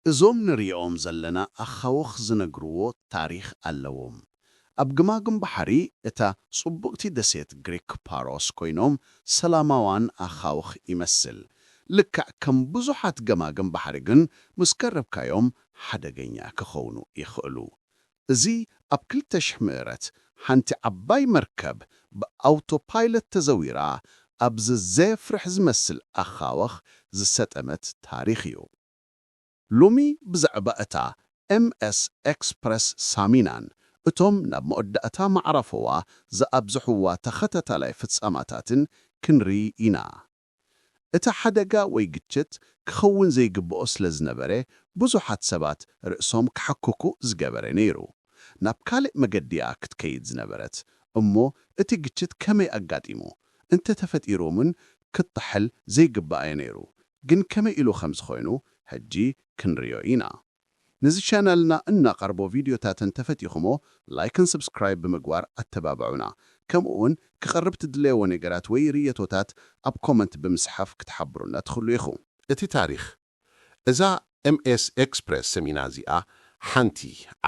እዞም ንርእዮም ዘለና ኣኻውኽ ዝነግርዎ ታሪኽ ኣለዎም። ኣብ ግማግም ባሕሪ እታ ጽቡቕቲ ደሴት ግሪክ ፓሮስ ኮይኖም ሰላማዋን ኣኻውኽ ይመስል። ልክዕ ከም ብዙሓት ገማግም ባሕሪ ግን ምስ ቀረብካዮም ሓደገኛ ክኸውኑ ይኽእሉ። እዚ ኣብ ክልተ ሽሕ ምእረት ሓንቲ ዓባይ መርከብ ብኣውቶፓይለት ተዘዊራ ኣብ ዘዘየፍርሕ ዝመስል ኣኻውኽ ዝሰጠመት ታሪኽ እዩ። ሎሚ ብዛዕባ እታ MS Express ሳሚናን እቶም ናብ መወዳእታ መዓራፎዋ ዝኣብዝሑዋ ተኸታታላይ ፍጻማታትን ክንሪኢ ኢና። እቲ ሓደጋ ወይ ግጭት ክኸውን ዘይግብኦ ስለ ዝነበረ ብዙሓት ሰባት ርእሶም ክሓክኩ ዝገበረ ነይሩ። ናብ ካልእ መገዲ'ያ ክትከይድ ዝነበረት እሞ እቲ ግጭት ከመይ ኣጋጢሙ? እንተተፈጢሩ'ውን ክጥሕል ዘይግብኣዮ ነይሩ ግን ከመይ ኢሉ ከምዚ ኮይኑ ሕጂ ክንሪኦ ኢና ንዚ ቻናልና እናቀርቦ ቪድዮታት እንተፈቲኩሞ ላይክን ስብስክራይብ ብምግባር ኣተባብዑና ከምኡ ውን ክቀርብ ትድለይዎ ነገራት ወይ ርእይቶታት ኣብ ኮመንት ብምስሓፍ ክትሓብሩና ትክሉ ኢኩ። እቲ ታሪኽ እዛ ኤምኤስ ኤክስፕረስ ሰሚና እዚኣ ሓንቲ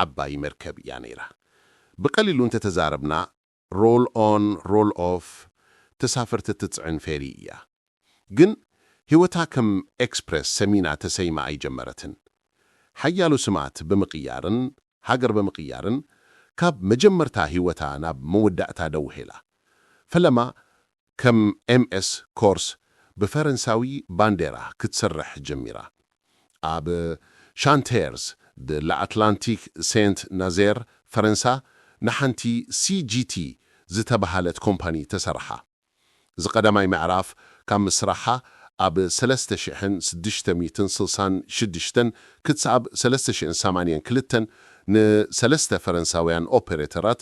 ዓባይ መርከብ እያ ነይራ። ብቀሊሉ እንተተዛረብና ሮል ኦን ሮል ኦፍ ተሳፈርቲ እትጽዕን ፌሪ እያ። ግን ህይወታ ከም ኤክስፕረስ ሰሚና ተሰይማ ኣይጀመረትን። ሓያሎ ስማት ብምቕያርን ሃገር ብምቕያርን ካብ መጀመርታ ህይወታ ናብ መወዳእታ ደውሔላ። ፈለማ ከም ኤምኤስ ኮርስ ብፈረንሳዊ ባንዴራ ክትስርሕ ጀሚራ። ኣብ ሻንተየርስ ደ ላኣትላንቲክ ሴንት ናዜር ፈረንሳ ንሓንቲ ሲጂቲ ዝተበሃለት ኮምፓኒ ተሰረሓ። እዚ ቀዳማይ ምዕራፍ ካብ ምስራሓ ኣብ ሰለስተ ሽሕን ስድሽተ ሚእትን ስልሳን ሽድሽተን ክትሳኣብ ሰለስተ ሽሕን ሰማንየን ክልተን ንሰለስተ ፈረንሳውያን ኦፐረተራት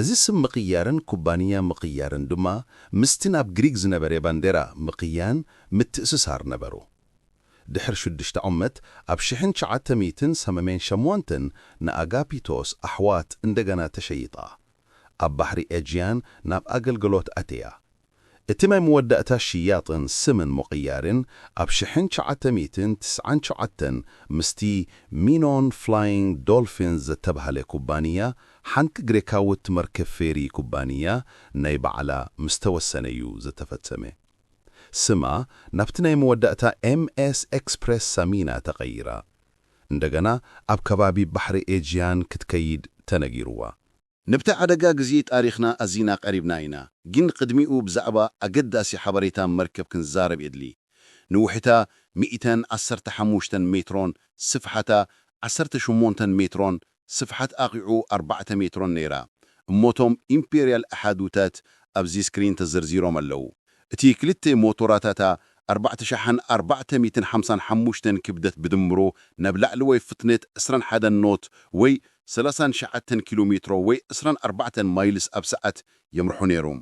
እዚ ስም ምቕያርን ኩባንያ ምቕያርን ድማ ምስቲ ናብ ግሪክ ዝነበረ ባንዴራ ምቕያን ምትእስሳር ነበሩ። ድሕሪ ሽዱሽተ ዓመት ኣብ ሽሕን ትሽዓተ ሚእትን ሰመሜን ሸሞንተን ንኣጋፒቶስ ኣሕዋት እንደገና ተሸይጣ። ኣብ ባሕሪ ኤጂያን ናብ ኣገልገሎት ኣትያ። እቲ ናይ መወዳእታ ሽያጥን ስምን ምቕያርን ኣብ ሽሕን ትሽዓተ ሚእትን ትስዓን ትሽዓተን ምስቲ ሚኖን ፍላይንግ ዶልፊንስ ዘተብሃለ ኩባንያ ሓንቲ ግሬካውት መርከብ ፌሪ ኩባንያ ናይ ባዕላ ምስ ተወሰነ እዩ ዘተፈጸመ። ስማ ናብቲ ናይ መወዳእታ ኤምኤስ ኤክስፕረስ ሳሚና ተቐይራ እንደገና ኣብ ከባቢ ባሕሪ ኤጂያን ክትከይድ ተነጊሩዋ። ነብቲ ዓደጋ ግዜ ጣሪኽና ኣዚና ቀሪብና ኢና ጊን ቕድሚኡ ብዛዕባ ኣገዳሲ ሓበሬታ መርከብ ክንዛረብ የድሊ ንውሕታ ሚእተን ዓሰርተ ሓሙሽተን ሜትሮን ስፍሓታ ዓሰርተ ሸሞንተን ሜትሮን ስፍሓት ኣቒዑ ኣርባዕተ ሜትሮን ነይራ እሞ እቶም ኢምፔርያል ኣሓዱታት ኣብዚ ስክሪን ተዘርዚሮም ኣለዉ እቲ ክልተ ሞቶራታታ ኣርባዕተ ሸሓን ኣርባዕተ ሚእትን ሓምሳን ሓሙሽተን ክብደት ብድምሩ ናብ ላዕለዎይ ፍጥነት ዕስራን ሓደን ኖት ወይ ሰላሳን ሸዓተን ኪሎ ሜትሮ ወይ ዕስራን ኣርባዕተን ማይልስ ኣብ ሰዓት የምርሑ ነይሮም።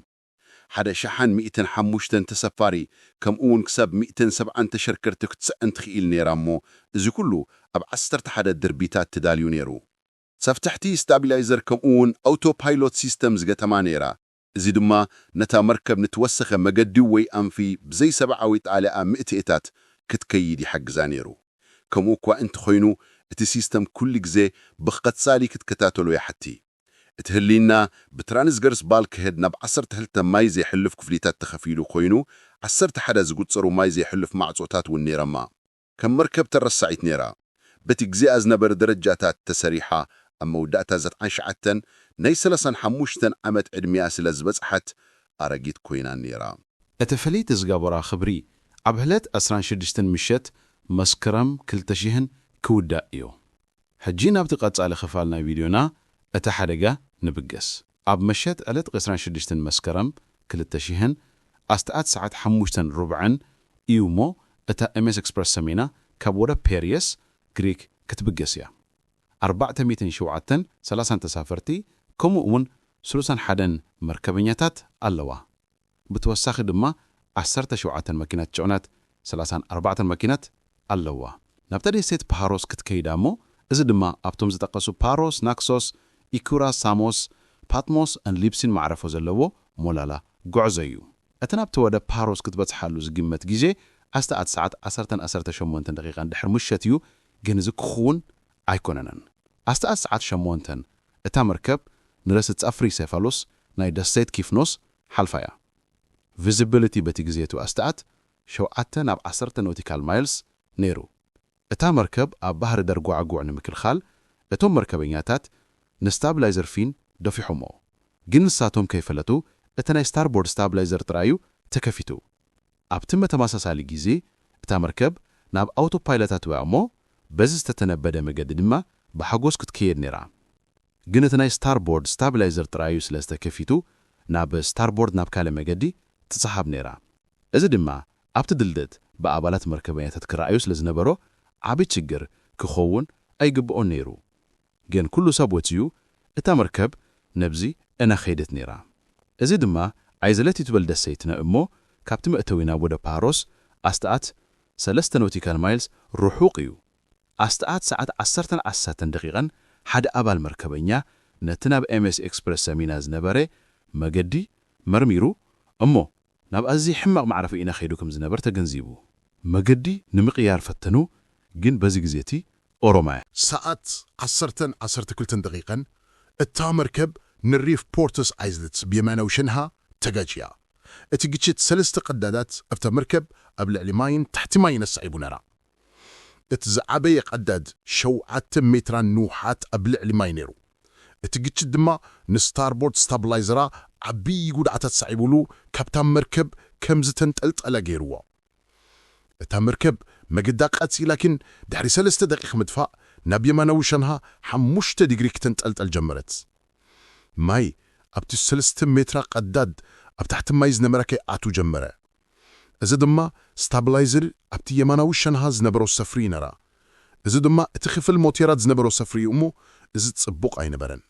ሓደ ሸሓን ሚእትን ሓሙሽተን ተሰፋሪ ከምኡ'ውን ክሳብ ሚእትን ሰብዓን ተሸርከርቲ ክትጽዕን ትኽኢል ነይራ እሞ እዚ ኩሉ ኣብ ዓሰርተ ሓደ ድርቢታት ተዳልዩ ነይሩ። ሰፍተሕቲ ስታቢላይዘር ከምኡ'ውን ኣውቶ ፓይሎት ሲስተም ዝገጠማ ነይራ። እዚ ድማ ነታ መርከብ ንትወሰኸ መገዲ ወይ ኣንፊ ብዘይሰብዓዊ ጣልያኣ ምእትእታት ክትከይድ ይሓግዛ ነይሩ። ከምኡ እኳ እንተኾይኑ እቲ ሲስተም ኩሉ ግዜ ብክቐጻሊ ክትከታተሎ ይሓቲ። እቲ ህልይና ብትራንስገርስ ባልክሄድ ናብ ዓሰርተ ክልተ ማይ ዜሕልፍ ክፍሊታት ተኸፊሉ ኮይኑ ዓሰርተ ሓደ ዝጉጸሩ ማይ ዜሕልፍ ማዕጾታት እውን ነይረማ። ከም መርከብ ተረሳዒት ነይራ። በቲ ግዜኣ ዝነበረ ደረጃታት ተሰሪሓ ኣብ መወዳእታ ዘትዓን ሸዓተን ናይ ሰላሳን ሓሙሽተን ዓመት ዕድሚኣ ስለ ዝበጽሓት ኣረጊት ኮይና ነይራ። እቲ ፍልይቲ ዝገበራ ክብሪ ኣብ ህለት ዕስራን ሽድሽትን ምሸት መስክረም ክልተ ሽሕን ክውዳእ ኢዮ። ሕጂ ናብቲ ቀጻሊ ክፋል ናይ ቪድዮና እቲ ሓደጋ ንብገስ። ኣብ መሸት ዕለት ዕስራን ሽዱሽተን መስከረም ክልተ ሽሕን ኣስታት ሰዓት ሓሙሽተን ሩብዕን እዩ እሞ እታ ኤምኤስ ኤክስፕረስ ሰሚና ካብ ወደብ ፔርየስ፣ ግሪክ፣ ክትብገስ እያ። ኣርባዕተ ሚእትን ሸውዓተን ሰላሳን ተሳፈርቲ ከምኡ እውን ስሉሳን ሓደን መርከበኛታት ኣለዋ። ብተወሳኺ ድማ ዓሰርተ ሸውዓተ መኪናት ጭዕነት፣ ሰላሳን ኣርባዕተን መኪናት ኣለዋ። ናብታ ደሴት ፓሮስ ክትከይድ ኣሞ እዚ ድማ ኣብቶም ዝጠቀሱ ፓሮስ፣ ናክሶስ፣ ኢኩራ፣ ሳሞስ፣ ፓትሞስ ን ሊብሲን መዕረፎ ዘለዎ ሞላላ ጎዕዞ እዩ። እቲ ናብቲ ወደብ ፓሮስ ክትበጽሓሉ ዝግመት ግዜ ኣስተ ኣት ሰዓት ዓሰርተን ኣሰርተ ሸሞንተን ደቂቃን ድሕር ምሸት እዩ ግን እዚ ክክውን ኣይኮነነን ኣስተ ኣት ሰዓት ሸሞንተን እታ መርከብ ንረስት ጸፍሪ ሴፋሎስ ናይ ደሴት ኪፍኖስ ሓልፋ እያ። ቪዚቢሊቲ በቲ ግዜ እቱ ኣስታት ሸውዓተ ናብ ዓሰርተ ኖቲካል ማይልስ ነይሩ። እታ መርከብ ኣብ ባህሪ ደርጓዕጉዕ ንምክልኻል እቶም መርከበኛታት ንስታብላይዘር ፊን ደፊሖምዎ ግን ንሳቶም ከይፈለቱ እቲ ናይ ስታርቦርድ ስታብላይዘር ጥራይ እዩ ተከፊቱ። ኣብቲ መተማሳሳሊ ግዜ እታ መርከብ ናብ ኣውቶፓይለት ኣትዊያ እሞ በዚ ዝተተነበደ መገዲ ድማ ብሓጎስ ክትከየድ ነይራ። ግን እቲ ናይ ስታርቦርድ ስታብላይዘር ጥራዩ ስለ ዝተከፊቱ ናብ ስታርቦርድ ናብ ካልእ መገዲ ትጽሓብ ነይራ እዚ ድማ ኣብቲ ድልድት ብኣባላት መርከበኛተት ክረኣዩ ስለ ዝነበሮ ዓቢ ችግር ክከውን ኣይግብኦን ነይሩ ግን ኩሉ ሰብ ወጺኡ እታ መርከብ ነብዚ እና ከይደት ነይራ እዚ ድማ ኣይዘለትዩ ትበል ደሰይትነ እሞ ካብቲ መእተዊ ናብ ወደብ ፓሮስ ኣስታት ሰለስተ ኖቲካል ማይልስ ሩሑቅ እዩ ኣስተኣት ሰዓት ዓሰርተን ዓሰርተን ደቂቐን ሓደ ኣባል መርከበኛ ነቲ ናብ ኤምኤስ ኤክስፕረስ ሰሚና ዝነበረ መገዲ መርሚሩ እሞ ናብ ኣዝዪ ሕማቕ ማዕረፎ ኢና ከይዱ ከም ዝነበር ተገንዚቡ መገዲ ንምቕያር ፈተኑ ግን በዚ ግዜ እቲ ኦሮማያ ሰኣት ዓሰርተን ዓሰርተ ክልተን ደቂቐን እታ መርከብ ንሪፍ ፖርትስ ኣይዝልትስ ብየማናዊ ሸንሃ ተጋጭያ። እቲ ግጭት ሰለስተ ቀዳዳት እታ መርከብ ኣብ ልዕሊ ማይን ትሕቲ ማይን ኣሰዒቡ ነራ። እቲ ዝዓበየ ቀዳድ ሸውዓተ ሜትራን ንውሓት ኣብ ልዕሊ ማይ ነይሩ። እቲ ግጭት ድማ ንስታርቦርድ ስታብላይዘራ ዓብዪ ጉድኣት ኣስዒቡሉ ካብታ መርከብ ከም ዝተንጠልጠለ ገይሩዎ። እታ መርከብ መገዳ ቀጺላ ግን ድሕሪ ሰለስተ ደቒቕ ምድፋእ ናብ የማናዊ ሸንሃ ሓሙሽተ ዲግሪ ክተንጠልጠል ጀመረት። ማይ ኣብቲ ሰለስተ ሜትራ ቀዳድ ኣብ ታሕቲ ማይ ዝነበራ ከይኣትው ጀመረ። እዚ ድማ ስታብላይዝር ኣብቲ የማናዊ ሸንሃ ዝነበሮ ሰፍሪ ይነራ እዚ ድማ እቲ ክፍል ሞቴራት ዝነበሮ ሰፍሪ እዩ እሞ እዚ ጽቡቕ ኣይነበረን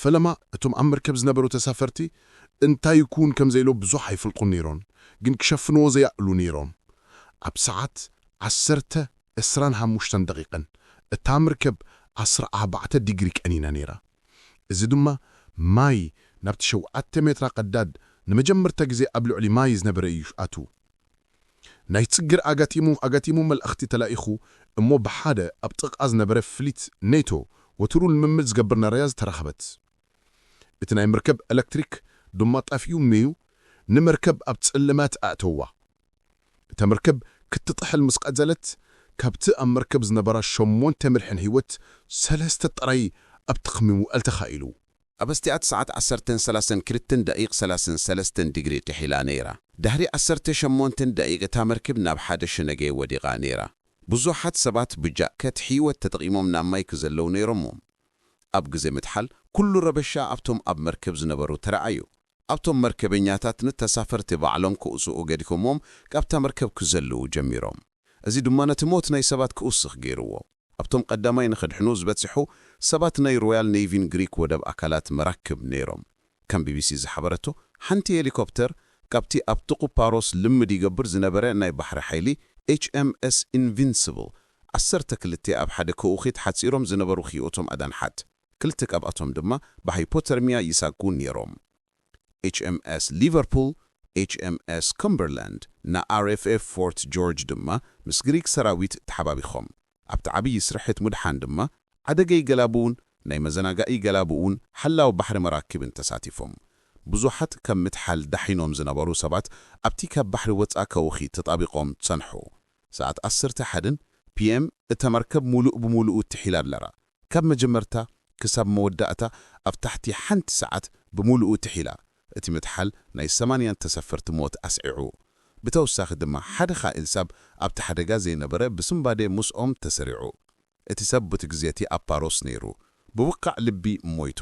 ፈለማ እቶም ኣብ መርከብ ዝነበሩ ተሳፈርቲ እንታይ ይኩውን ከምዘይሎ ብዙሕ ኣይፈልጡን ነይሮን ግን ክሸፍንዎ ዘይኣእሉ ነይሮም ኣብ ሰዓት ዓሰርተ ዕስራን ሓሙሽተን ደቂቀን እታ ምርከብ ዓስራ ኣህባዕተ ዲግሪ ቀኒና ነይራ እዚ ድማ ማይ ናብቲ ሸውዓተ ሜትራ ቀዳድ ንመጀመርታ ግዜ ኣብ ልዕሊ ማይ ዝነበረ እዩ ኣትዉ። ናይ ጽግር ኣጋቲሙ ኣጋቲሙ መልእኽቲ ተላኢኹ እሞ ብሓደ ኣብ ጥቓ ዝነበረ ፍሊት ኔቶ ወትሩ ልምምድ ዝገብር ናረያ ዝተረኸበት። እቲ ናይ መርከብ ኤለክትሪክ ድማ ጠፊኡ ሜዩ ንመርከብ ኣብ ጽልመት ኣእተዋ። እታ መርከብ ክትጥሕል ምስ ቀዘለት፣ ካብቲ ኣብ መርከብ ዝነበራ ሸሞንተ ምድሕን ህይወት ሰለስተ ጥራይ ኣብቲ ክሚ ምውዕል ተኻኢሉ። ኣብ ኣስቲኣት ሰዓት ዓሰርተን ሰላሳን ክልተን ደቂቅ ሰላሳን ሰለስተን ዲግሪ ጥሒላ ነይራ። ዳህሪ ዓሰርተ ሸሞንተን ደቂቅ እታ መርክብ ናብ ሓደ ሸነገ ወዲቃ ነይራ። ብዙሓት ሰባት ብጃከት ህይወት ተጠቂሞም ናብ ማይ ክዘለው ነይሮሞም። ኣብ ግዘ ምጥሓል ኩሉ ረበሻ ኣብቶም ኣብ መርክብ ዝነበሩ ተረኣዩ። ኣብቶም መርከበኛታት ንተሳፈርቲ ባዕሎም ክውጽኡ ገዲፎምዎም ካብታ መርከብ ክዘልው ጀሚሮም። እዚ ድማ ነቲ ሞት ናይ ሰባት ክውስኽ ገይሩዎ። ኣብቶም ቀዳማይ ንክድሕኑ ዝበጽሑ ሰባት ናይ ሮያል ነይቪን ግሪክ ወደብ ኣካላት መራክብ ነይሮም። ከም ቢቢሲ ዝሓበረቶ ሓንቲ ሄሊኮፕተር ካብቲ ኣብ ጥቁ ፓሮስ ልምድ ይገብር ዝነበረ ናይ ባሕሪ ሓይሊ HMS Invincible ዓሰርተ ክልተ ኣብ ሓደ ከውኺት ሓጺሮም ዝነበሩ ክይኡቶም ኣዳንሓት። ክልተ ካብኣቶም ድማ ብሃይፖተርሚያ ይሳጉ ነይሮም። ኤችኤምኤስ ሊቨርፑል፣ ኤችኤምኤስ ከምበርላንድ፣ ን ኣርኤፍኤፍ ፎርት ጆርጅ ድማ ምስ ግሪክ ሰራዊት ተሓባቢኾም ኣብቲ ዓብዪ ስርሒት ምድሓን ድማ ዓደገይ ገላቡውን ናይ መዘናጋኢ ገላቡውን ሓላው ባሕሪ መራክብን ተሳቲፎም ብዙሓት ካብ ምትሓል ዳሒኖም ዝነበሩ ሰባት ኣብቲ ካብ ባሕሪ ወጻ ከውኺ ተጣቢቆም ጸንሑ። ሰዓት ኣሰርተ ሓደን ፒኤም እታ መርከብ ሙሉእ ብሙሉኡ ትሒላ ኣለራ ካብ መጀመርታ ክሳብ መወዳእታ ኣብ ታሕቲ ሓንቲ ሰዓት ብሙሉኡ ትሒላ እቲ ምጥሓል ናይ ሰማንያን ተሰፈርቲ ሞት ኣስዒዑ ብተወሳኺ ድማ ሓደ ኻእል ሳብ ኣብቲ ሓደጋ ዘይነበረ ብስንባዴ ሙስኦም ተሰሪዑ እቲ ሰብ ቡቲ ግዜቲ ኣብ ፓሮስ ነይሩ ብውካዕ ልቢ ሞይቱ